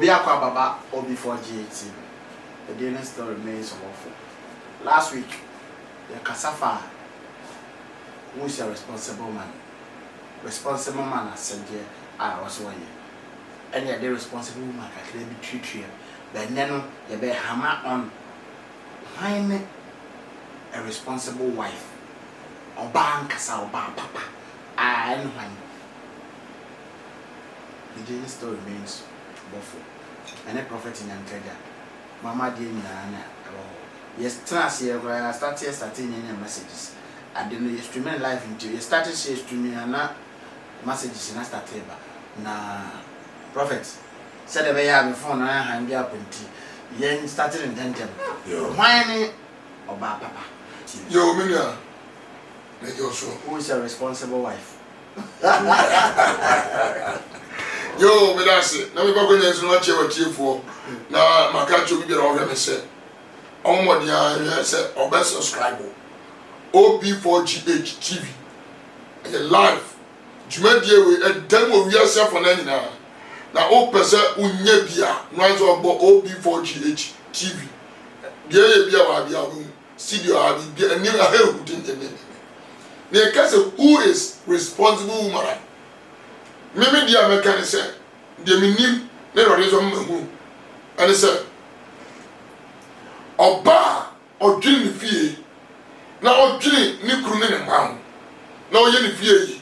Obi akɔ ababa obi for GHC no the dealing still remains ɔwɔfo. Last week yɛ kasa faa who is a responsible man, responsible man asɛdeɛ a ɛwɔ sɛ ɔyɛ ɛna yɛde responsible woman kakra bi tuatuaa mu but nnɛ no yɛbɛ hammer on hwan ne a responsible wife, ɔbaa ankasa ɔbaa papa a ɛne hwan. The Jesus still remains bɔfo ɛne prɔfɛt nyankagya mo ama adeɛ nyinaa na ɛwɔ hɔ yɛ tena ase yɛ koraa yɛ starte yɛ starte nya nya messages ade no yɛ streame no live nti yɛ starte hyɛ streame a na messages na starte ba na prɔfɛt sɛdeɛ ɛbɛyɛ a me phone no an hang up nti yɛ starte no ntɛntɛm hwan ne ɔbaa papa. Yo me nua na gya ɔsoro. Who is your responsible wife? yoo meda ase na meba kwanya nso no makyia watiefoɔ na maka akyɛ obi biara ɔhwɛ me sɛ ɔmo mmɔden ahwɛ sɛ ɔbɛ subscribe ob4gh tv ɛyɛ live dwumadie wei ɛda mu owiase afa no nyinaa na wopɛ sɛ wonya bi a no ansɛ ɔbɔ ob4gh tv deɛ ɛyɛ bi a wɔabia wobɛhu Sidi ɔha biribi ani ahehu dendendenden. Na yɛka sɛ who is responsible woman a, me me deɛ a mɛka ne sɛ deɛ menim na Awurade nso ama mahunu ɛne sɛ ɔbaa a ɔdwene ne fie na ɔdwene ne kunu ne ne mma ho na ɔyɛ ne fie yie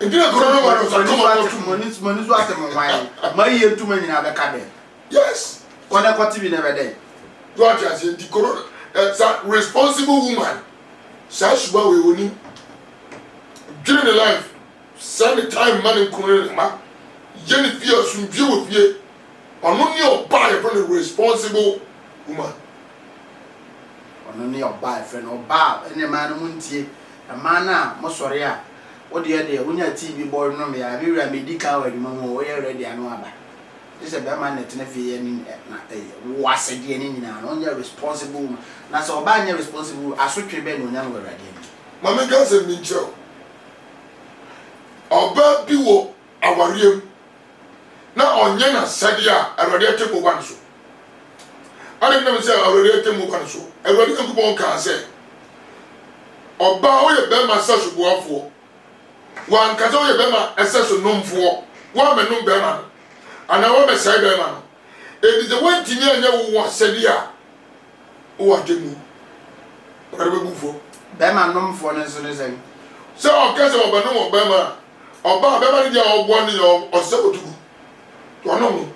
Egyina kuro no ma no sɛ no ma no tum. Mɔni mɔni so asɛm nwan. Ma yie ntum nyinaa bɛka dɛ. Yes. Kɔ na kɔ TV na bɛ dɛ. Yɛ ɔte aseɛ nti kuro ɛ sa responsible woman saa suba wei onim dwene ne life sɛ ne time ma ne nkunu ne ne mma yɛ ne fie asomdwie wɔ fie ɔno ne ɔbaa yɛfrɛ no responsible woman. Ɔno ne ɔbaa yɛfrɛ no ɔbaa ne mmaa no mu ntie. Mmaa no a mosɔre a, wo deɛ deɛ wonya tea bi bɔ nome a, me wura medi kan wɔ adwuma mu o, woyɛ ready a na waba. Gye sɛ barima no na ɛtena fie yɛ ne wo asɛdeɛ no nyinaa na ɔnyɛ responsible woman. Na sɛ ɔbaa nyɛ responsible woman, asotwe bɛn na ɔnya no wɔ Awurade anim? Ma menka asɛm bi nkyerɛ wo. Ɔbaa bi wɔ awareɛ mu na ɔnyɛ n'asɛdeɛ a, Awurade atemmuo ba ne so. Adɛn nti na mese Awurade atemmuo ba ne so? Awurade Nyankopɔn kaa sɛ, Ɔbaa a woyɛ barima sɛ so boafoɔ, wanka sɛ woyɛ barima sɛ so nomfoɔ, woammɛnom barima no, anaa woammɛsɛe barima no, enti sɛ woantumi anyɛ wo wo asɛdeɛ a, wowɔ atemmuo. Awurade bɛbu wo fɔ. Barima nomfoɔ no nso ne sɛn? Sɛ ɔka sɛ ɔbɛnom ɔbarima a, Ɔbaa bɛma ne deɛ ɔboa ne yɔnko ɔte sɛ kotoku. Deɛ ɔnom no,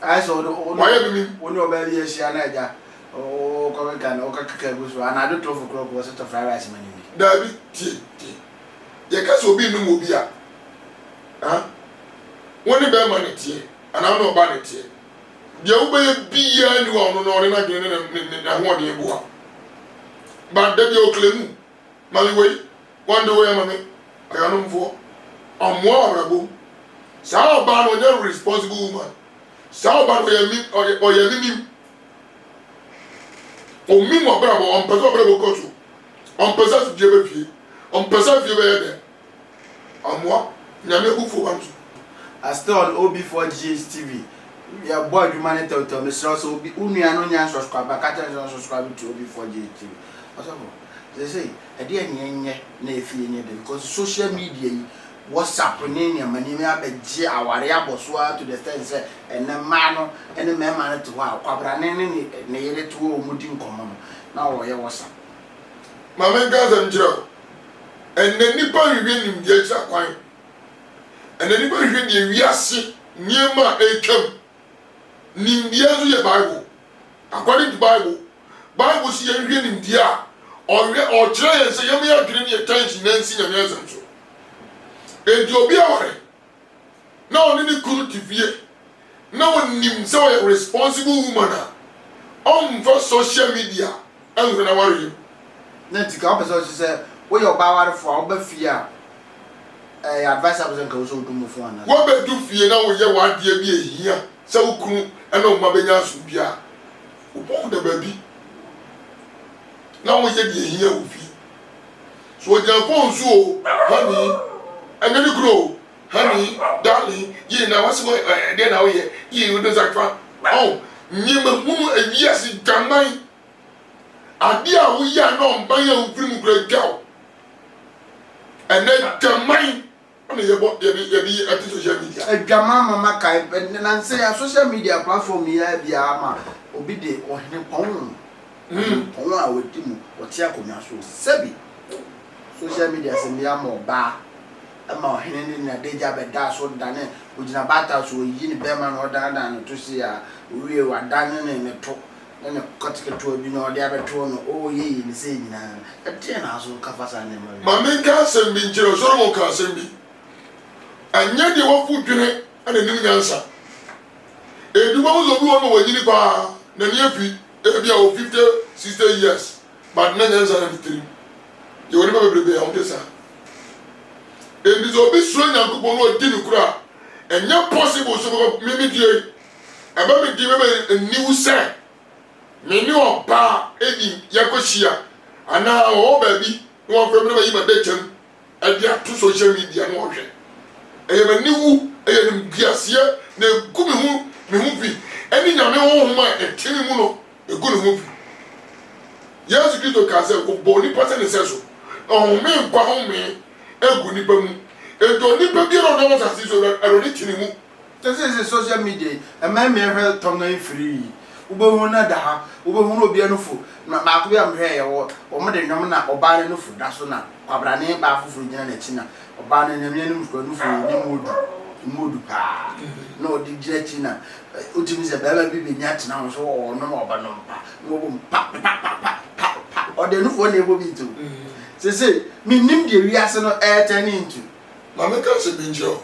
Ayɛ sɛ wayɛ bemim. Wo ne ɔbaa bi ahyia na agya wokɔkeka na wokakeka agu so. Anadwo tɔfo korɔ kɔ hɔ sɛ tɔ fried rice ma no ndi. Daabi, tie, tie. Yɛka sɛ obi nnom obi a, ha, wo ne bɛrima na ɛteɛ anaa wo ne ɔbaa na ɛteɛ. Deɛ wobɛyɛ biara nni hɔ a ɔno no ɔde n'adwene ne n'ahoɔden boa wo. But da bi ɔklemu Ma me wei, wɔde wei ama me, Ayanomfoɔ, ɔmmoa abrabɔm. Saa ɔbaa no ɔnyɛ responsible woman, saa ɔbaa no ɔyɛ mim, ɔyɛ, ɔyɛ mimim. Ɔmim abrabɔ, ɔmpɛ sɛ ɔbrabɔ kɔ so, ɔmpɛ sɛ asomdwie ba fie, ɔmpɛ sɛ fie bɛyɛ dɛ. Ɔmoa Nyame gu fo wam so. Astor no OB foɔ GH TV yɛ bɔ adwuma no tɛwtɛw mesrɛ wo sɛ obi wo nua no nyɛ subscribe a ka kyerɛ no sɛ ɔn subscribe to OB foɔ GH TV ɔsɔfo sesei ɛdeɛn ne yɛn nyɛ na ɛfi yɛn nyɛ dɛ because social media yi WhatsApp ne nneɛma nneɛma abɛgye aware abɔ so ara to the extent sɛ ɛnɛ mmaa no ne mmarima no te hɔ a kwabrane ne ne ne yere te hɔ a wɔn di nkɔmmɔ no na wɔyɛ WhatsApp. Ma menka asɛm nkyerɛ wo Ɛnnɛ, nnipa nhwehwɛ nimdeɛ akyira kwan. Ɛnnɛ, nnipa hwehwɛ deɛ wiase nneɛma a ɛretwam. Nimdeɛ nso yɛ Bible. According to Bible, Bible se yɛnhwehwɛ nimdeɛ a, ɔhwɛ, ɔkyerɛ yɛn sɛ yɛma yɛn adwene ne yɛn times nyinaa nsi Nyame asɛm so. Enti obi aware. na ɔne ne kunu te fie na onim sɛ ɔyɛ responsible woman a, ɔmfa social media nhwɛ n'awareɛ mu. Na nti ka wopɛ sɛ ɔkyerɛ sɛ woyɛ ɔbaa awarefoɔ a woba fie a ɛyɛ advisable sɛ nka wo sɛ wodu mo fon anaa? Wobɛdu fie na woyɛ w'adeɛ bi a ɛhia sɛ wo kunu ne wo mma bɛnya asomdwie a, wobɔ wo da baabi na woyɛ deɛ ɛhia wɔ fie. So ogyina phone so o honey Ɛnyɛ ne kunu o honey Darling yie na w'ase wɔ ɛ ɛdeɛn na woyɛ yie wode nsa fa ɔn Nneɛma hunu ewiase dwaman Adeɛ a woyɛ a na ɔmban a wofiri mu koraa twa wo Ɛnɛ dwaman Adwaman ma makae nnansa yi a social media platform yi ara bi ara ma obi de Ɔhenepɔn Ɔhenepɔn a wadi mu ɔte akonnwa so sɛbi social media asɛmbi ama ɔbaa ɛma ɔhene ne nadagya bɛdaa so dane ogyina baata so ɔyi ne bɛrima na ɔdanadane ne to sei a owie wadane ne ne to na ne kɔt ketewa bi na ɔde abɛto no, o, yei ne sei nyinaa. Ɛdeɛn na aso ka fa saa nneɛma wei ho? Ma menka asɛm bi nkyerɛ wo, Solomon kaa asɛm bi, Ɛnyɛ deɛ wafu dwene na ɛnim nyansa. Ebi, wobɛhu sɛ obi wɔ hɔ no, wanyini pa ara, n'ani afi, ebia ɔwɔ fifty, sixty years, but na nyansa da ne tirim. Yɛwɔ nnipa bebrebe a wɔte saa. Enti sɛ obi suro Nyankopɔn na ɔdi nokorɛ a, ɛnyɛ possible sɛ wobɛba, me, me due yi, Ɛba me den ma aniwu sɛ me ne ɔbaa Edin yɛakɔhyia anaa ɔwɔ baabi na wafrɛ me na mayi m'adagya mu de ato social media na ɔhwɛ. Ɛyɛ me aniwu, ɛyɛ animguaseɛ na ɛgu me ho me ho fi ɛne Nyame honhom a ɛte me mu no ɛgu ne ho fi. Yesu Kristo kaa sɛ wɔbɔɔ nnipa sɛ ne sɛso na ɔhome nkwa home agu nnipa mu. Enti onipa biara a ɔnam asase so no Awurade te ne mu. Kyɛ seesei social media yi, ɛma mmea hwɛ tɔm na mfiri yi, wobɛhunu no da ha, wobɛhunu obia nufu, na baako bi a mehwɛɛ yɛ wɔ, wɔn de nnwom na ɔbaa no nufu da so na kwabrane baa foforɔ gyina n'akyi na ɔbaa no nyame anim kura nufu yi ne mu odu, mu odu paa, na ɔde gyina akyi na wotumi sɛ bɛrima bi bɛni atena ho so wɔ ɔnom ɔba no mpa, na wɔbɔ mu pa pa pa pa pa pa, ɔde nufuo na ɛbɔ bi to. Seesei, mennim deɛ wiase no ɛretɛne ntu. Ma menka sɛ menkyerɛ wo.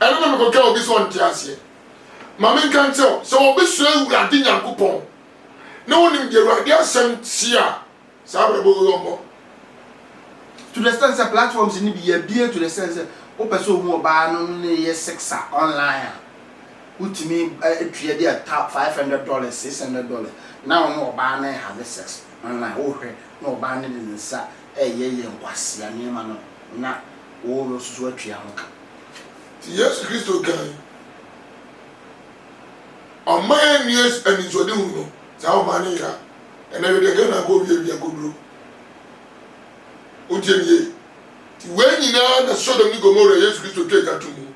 Ɛno na mekɔkaa obi sɛ ɔnte aseɛ. Ma menka nkyerɛ wo, sɛ wobɛsuro Awurade Nyankopɔn, na wonim deɛ Awurade asɛm seɛ a, saa abrabɔ wei ɔmmɔ. To the extent sɛ platforms no bi yɛabue to the extent sɛ wopɛ sɛ ohu ɔbaa no ne no reyɛ sex a online a, wotumi tua bi a ta five hundred dollars, six hundred dollars na wo ne ɔbaa no have sex online, worehwɛ na ɔbaa no de ne nsa reyɛyɛ nkwasea nneɛma no na wo resusu atua ho ka. Nti Yesu Kristo kan ɔman a ɛnni anisoadehu no, saa ɔman no yera. Ɛnnɛ deɛ Ghana akɔ wie wie akoduro. Wotie me yie? Nti wei nyinaa na Sodom ne Gomora Yesu Kristo twa gya to mu.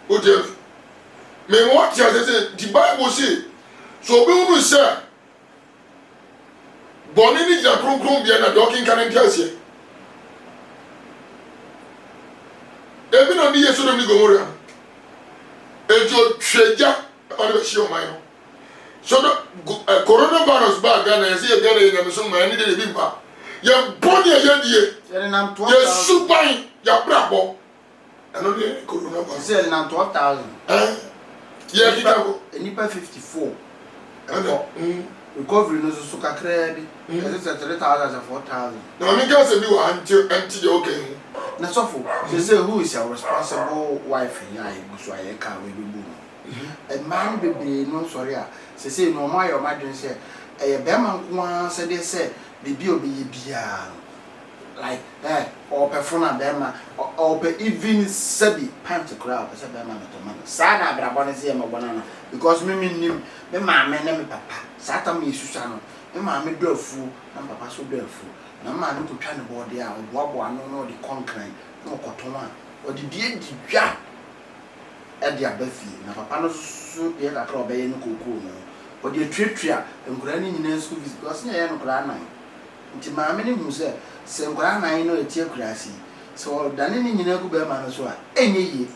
Wotie me? Mema woate aseɛ sɛ, nti Bible se, sɛ obi hunu sɛ Bɔne no gyina kronkronbea na deɛ ɔkenka no nte aseɛ. Ebi na ɔde yɛ Sodom ne Gomora no. Enti ɔtwa gya ma no bɛhye ɔman no. Sodom, eh, coronavirus baa Ghana, yɛsɛ yɛ Ghana yɛ nyamesom ma ɛne deɛ ebi mba. Yɛn bɔne a yɛadie, yɛn suban, yɛabrabɔ, Ɛno deɛ ne kuro no ba. Sɛ na twelve thousand. Ɛn yɛ kika ko. Nipa fifty four. Ɛkɔ recovery no soso kakraa bi. Ɛsɛ sɛ three thousand sɛ four thousand. Na maame nka asɛm bi wɔ ha nti ɛnti deɛ ɔka yi ho. Na sɔfo sese who is your responsible wife yi a yɛgu so a yɛka a wɛbɛbu no no. Mmaa no bebree no nsɔre a sese no wɔn ayɛ wɔn adwene sɛ ɛyɛ bɛɛma nko ara sɛdeɛ sɛ biribi a ɔbɛyɛ biara no like eh ɔɔpɛ fon a bɛɛma ɔɔpɛ even sɛbi pant koraa a ɔpɛ sɛ bɛɛma no tɔ ma no saa na abrabɔ no si yɛ mɔbɔ no ano because me me nim me maame ne me papa saa tam yɛ susua no me maame dɔ afuo na me papa so dɔ afuo na me maame kɔ twa ne bɔɔdeɛ a ɔboaboa ano na ɔde kɔ nkran na ɔkɔ tɔn a ɔde bi adi dwa ɛde aba fie na papa no so deɛ kakra ɔbɛyɛ no kookoo no ɔde atuatua nkura ne nyinaa school fees because ne yɛyɛ no koraa nan. Nti maame no huu sɛ, sɛ nkwadaa nnan yi na ɔyɛ te akuraase yi, sɛ ɔdane ne nyinaa gu barima no so a, ɛnyɛ yie.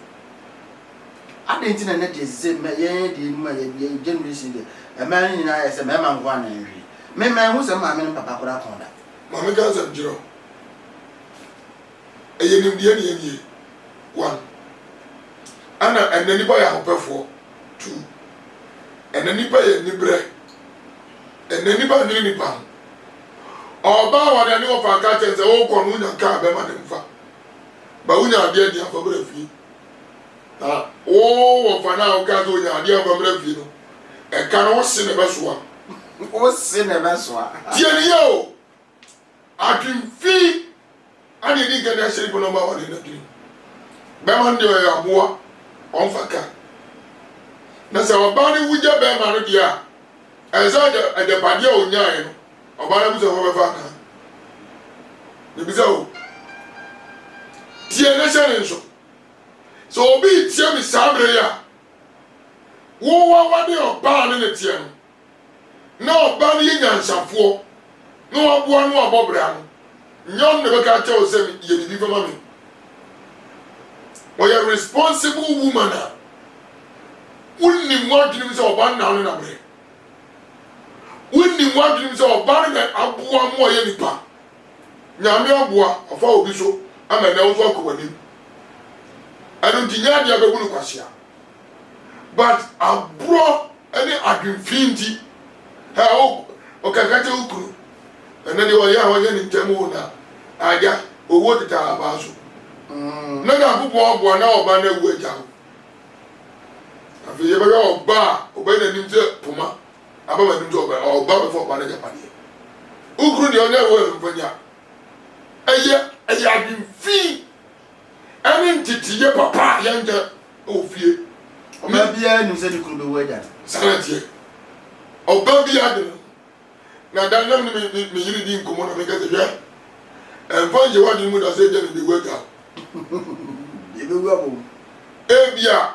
Adɛn nti na na deɛ ɛsɛ sɛ mɛ, yɛn deɛ anim a yɛ- yɛn generation deɛ, mmaa no nyinaa yɛ sɛ mmarima nko ara na ɛnhwee. Me mmaa nhu sɛ me maame no papa koraa kɔn da. Maame ka nsɛm kyerɛ wo. ɛyɛ nimdeɛ na ɛnnie, one. Ɛna ɛnnɛ nnipa yɛ ahopɛfoɔ, two. Ɛnnɛ nnipa yɛ aniberɛ, ɛnnɛ nnipa nnwene nnipa ho. Ɔbaa wɔ adeɛ ne wɔfa aka kyɛn sɛ wokɔ no wonya kaa bɛma ne mfa. Ba wonya adeɛ deɛ fa mmra fie. Na wo wɔfa no a wokaa sɛ wonya adeɛ fa mmra fie no, ɛka no wo se na ɛbɛsoa. Wo se na ɛbɛsoa. Tie ne yie o. Adwen fi a deɛ ɛdi kan de ahyɛ nipa no ɔma ɔne n'adwene mu. Bɛɛma no deɛ ɔyɛ aboa ɔmfa ka. Na sɛ ɔbaa no wu gya bɛɛma no deɛ a, ɛsɛ sɛ agya agyapadeɛ a ɔnyaaɛ no ɔbaa no abusuafo bɛfa anaa? Mebisa o. Tie na hyɛ ne nso. Sɛ obi retie me saa berɛ yi a, wo wawade ɔbaa ne ne teɛ no, na ɔbaa no yɛ nyansafoɔ na waboa ano abɔ bra no, nyɛ ɔno na ɛbɛka akyerɛ wo sɛ yɛ biribi fa ma me. Ɔyɛ responsible woman a wonim w'adwenem sɛ ɔbaa no na ano na brɛ. Wonim w'adwenem sɛ ɔbaa no na aboa mo ayɛ nipa. Nyame aboa ɔfa obi so ama ɛnɛ wo nso akɔ w'anim. Ɛno nti nyɛ adeɛ a bɛbu no kwasea. But aborɔ Ɛne adwene fi nti a wo ɔka kata wo kunu ɛna deɛ ɔyɛ a wɔnyɛ ne ntɛm o na agya owuo tete abaa so na nyankopɔn aboa na ɔba no awu agya wo afei yɛbɛhwɛ ɔba a ɔbɛyɛ n'anim sɛ poma aba m'anim sɛ ɔba ɔba bɛfa ɔba no agyapadeɛ wo kunu deɛ ɔnyɛ wo ɛmfa nya ɛyɛ ɛyɛ adwene fi ne nteteyɛ papa a yɛnyɛ wɔ fie. Ɔbaa biara nim sɛ ne kunu bɛwu agya no. Saa na ɛteɛ. Ɔbaa biara de no. Na da na me ne me yere di nkɔmmɔ na meka sɛ, hwɛ, ɛmfa nhyɛ w'adwene mu da sɛ agya no bɛwu agya wo. Yɛbɛwu abom. Ebia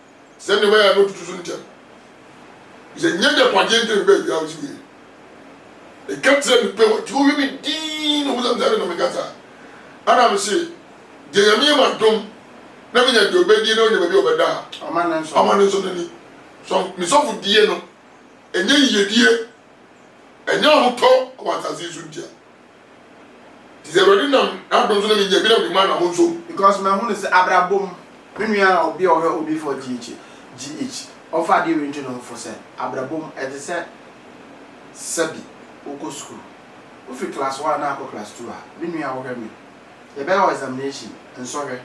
sɛnea ɛbɛyɛ a ɛbɛtutu so ntɛm. Efisɛ ɛnyɛ agyapadeɛ nti na mebaa awiei a ɔsi wei. Meka kyerɛɛ no pɛn ɔti ɔhwɛ me dinn na ɔhu sɛ mesɛ na meka saa. Ɛna mese, deɛ Nyame yɛ m'adom na menya deɛ ɔbɛdie na ɔnya baabi a ɔbɛda a, ɔma no nso no ni. So me sɔfodie no, ɛnyɛ yiyedie, ɛnyɛ ahotɔ wɔ asase yi so nti a. Te sɛ Awurade nam n'adom so na menya bi na mede maa n'ahonso mu. Because mahunu sɛ abrabɔ mu me nua a ɔbea a ɔhwɛ obi fɔ GH, GH, ɔfa adeɛ wei nti no mfo sɛ abrabɔ mu ɛte sɛ sɛbi wokɔ sukuu wofi class one na akɔ class two a me nua a wohwɛ me yɛbɛyɛ wo examination nsɔhwɛ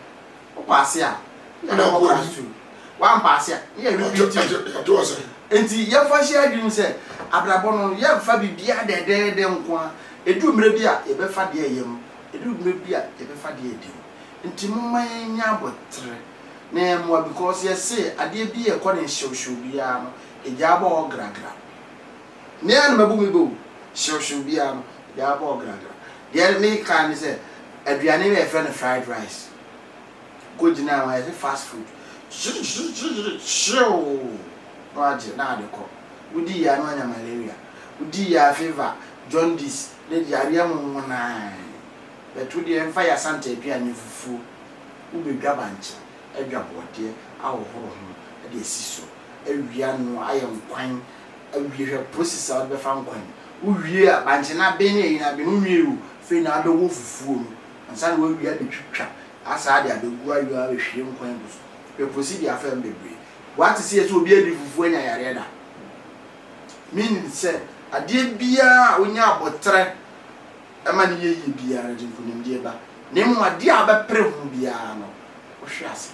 Ɔpa ase a, na ɔkɔ class two. Wampa ase a, ne yɛ repeat. Nti yɛmfa nhyɛ yɛn adwenem sɛ, abrabɔ no, yɛmfa biribiara dɛɛdɛɛdɛ nko ara. Ɛduru mmerɛ bi a, yɛbɛfa deɛ ɛyɛ no. Ɛduru mmerɛ bi a, yɛbɛfa deɛ ɛdi no. Nti momma yɛnyɛ aboterɛ na yɛmmoa because yɛse adeɛ bi a ɛkɔ no nhyewhyew biara no, ɛgyaa bɔ hɔ gragra. Me ara na mabu me bɛ o, hyewhyew biara no, yɛde abɔ ɔgragra. Deɛ mekae ne sɛ, aduane bi a yɛfrɛ no fried rice, kɔgyina hɔ a, ayɛ sɛ fast food, gyigyigyigyigyigyi, hyew! na wagye na ade kɔ. Wodi yɛ a na wanya malaria, wodi yɛ a fever, jaundice, ne yareɛ nwonwonaan. But wo deɛ mfa yɛ Asante aduane afufuo, wobɛdwa bankye, adwa borɔdeɛ, ahohoro ho de asi so, awia ano, ayɛ nkwan. awie hwɛ process a wode bɛfa nkwan mu wowie a bankye no aben ne ayi no aben wonwiei o afei na abɛwɔ fufuo no ansa na wawie abɛtwitwa asaa de abɛgu ayo abɛhwie nkwan gu so hwɛ procedure afa mu bebree woate seɛ sɛ obi adi fufuo anya yareɛ da meaning sɛ adeɛ biara a wonya aboterɛ ɛma no yɛ yie biara no de nkonimdie ba na mmom adeɛ a wobɛpere ho biara no wohwe ase.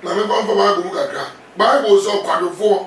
Na menkɔ mfa Bible mu kakra. Bible sɛ ɔkwadofoɔ